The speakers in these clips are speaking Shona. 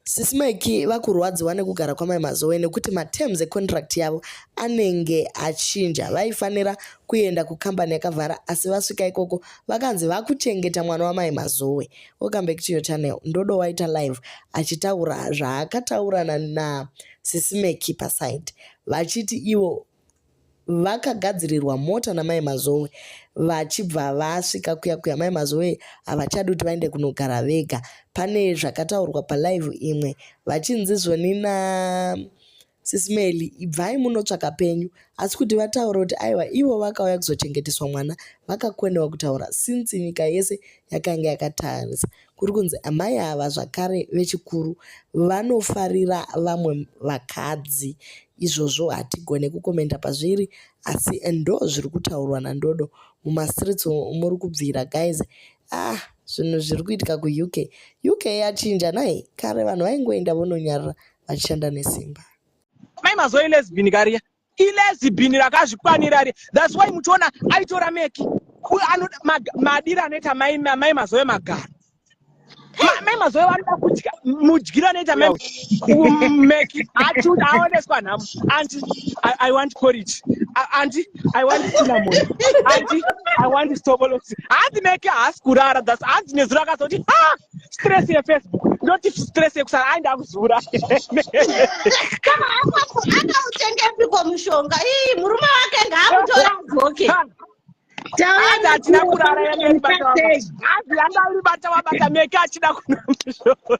Sisi Mike vakurwadziwa nekugara kwamai Mazowe nekuti materms econtract yavo anenge achinja. Vaifanira kuenda kukambani yakavhara asi vasvika ikoko vakanzi vakuchengeta mwana wamai Mazowe. Welcome back to your channel. Ndodo waita live achitaura zvaakataura na, na Sisi Mike paside vachiti ivo vakagadzirirwa mota namai mazowe vachibva vasvika kuya kuya mai mazowe havachadi kuti vaende kunogara vega pane zvakataurwa palive imwe vachinzi zvoni na sisimeli ibvai munotsvaka penyu asi kuti vataura kuti aiwa ivo vakauya kuzochengeteswa mwana vakakwenewa kutaura since nyika yese yakanga yakatarisa kuri kunzi amai ava zvakare vechikuru vanofarira vamwe vakadzi izvozvo hatigone kukomenda pazviri asi ndo zviri kutaurwa nandodo mumastreets muri kubvira guys ah zvinhu zviri kuitika kuuk uk yachinja nai kare vanhu vaingoenda vononyarira vachishanda nesimba mai mazoilesbin kariya ilezibhini rakazvikwanira ri thats why muchiona aitora meki madiri anoita mai mai mazoe magaro mai mazoe vanoda kudya mudyiro anoita mai meki achiuda aoneswa nhamo anti i want porridge anti i want cinnamon anti i want stobolosi hanzi meki haasi kurara thats hanzi nezuro akazoti ha stress yefacebook not stress yekusara ai ndakuzura kana apapo akautengepiko mushonga ii murume wake ngaamutora adzoke Taenda atina kurara yameri bata wabata. Hazi yanga uri bata wabata meke achida kunwa mushonga.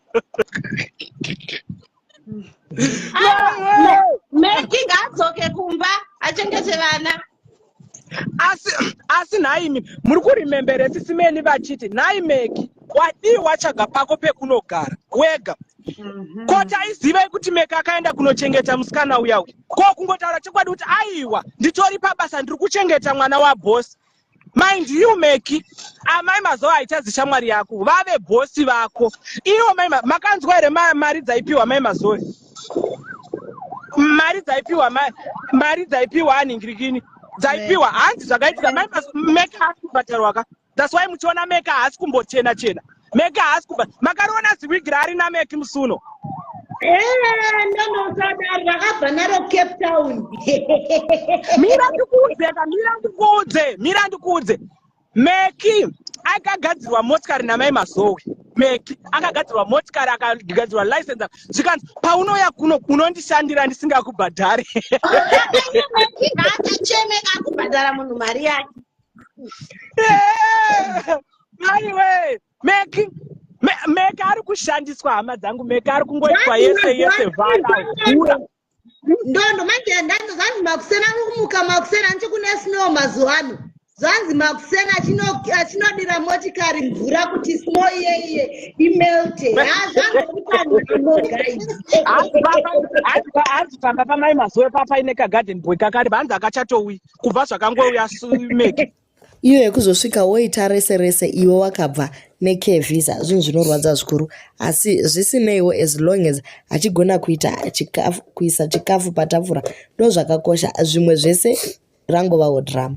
meki ngaadzoke kumba achengete vana asi asi nhaimi muri kuremembere sisi meni vachiti nhai meki wadii watsvaga pako pekunogara wega mhm. ko taizivai kuti meki akaenda kunochengeta musikana uya uya ko kungotaura chokwadi kuti aiwa nditori pabasa ndiri kuchengeta mwana wabhosi Mind you Meki, amai mazoa haichazi shamwari yako, vave boss vako. Ivo mai makanzwa here mari dzaipiwa mai mazoe? Mari dzaipiwa mai mari dzaipiwa aningirikini. Dzaipiwa hanzi zvakaitika mai mazoe Meki asi kubhadharwa ka. That's why muchiona Meki haasi kumbochena chena. chena. meki haasi kuba makariona ziwigi raari nameki musuno ndonosadari rakabva naro cape town mira ndikuudze ka mira ndikuudze mira ndikuudze meki akagadzirwa motikari namai mazowe meki akagadzirwa motikari akagadzirwa license zvikanzi paunouya kuno unondishandira ndisingakubhadhari ngaacheme akubhadhara munhu mari yake maiwe mek mek ari kushandiswa hama dzangu mek ari kungoitwa yese yese vaaura ndondo manje ndanzi zvanzi makusena kumuka makusena nchi kune snow mazuva ano zvanzi makusena achinodira motikari mvura kuti snow iyeiye imelte hazvazvanogaizhanzi pamba pamai mazuva papa ine kagarden boy kakari vanzi akachatouyi kubva zvakangouya sumeki iyo yekuzosvika woita rese rese iwe wakabva neke visa zvinhu zvinorwadza zvikuru asi zvisineiwo as long as achigona kuita chikafu kuisa chikafu patafura ndo zvakakosha zvimwe zvese rangovawo drama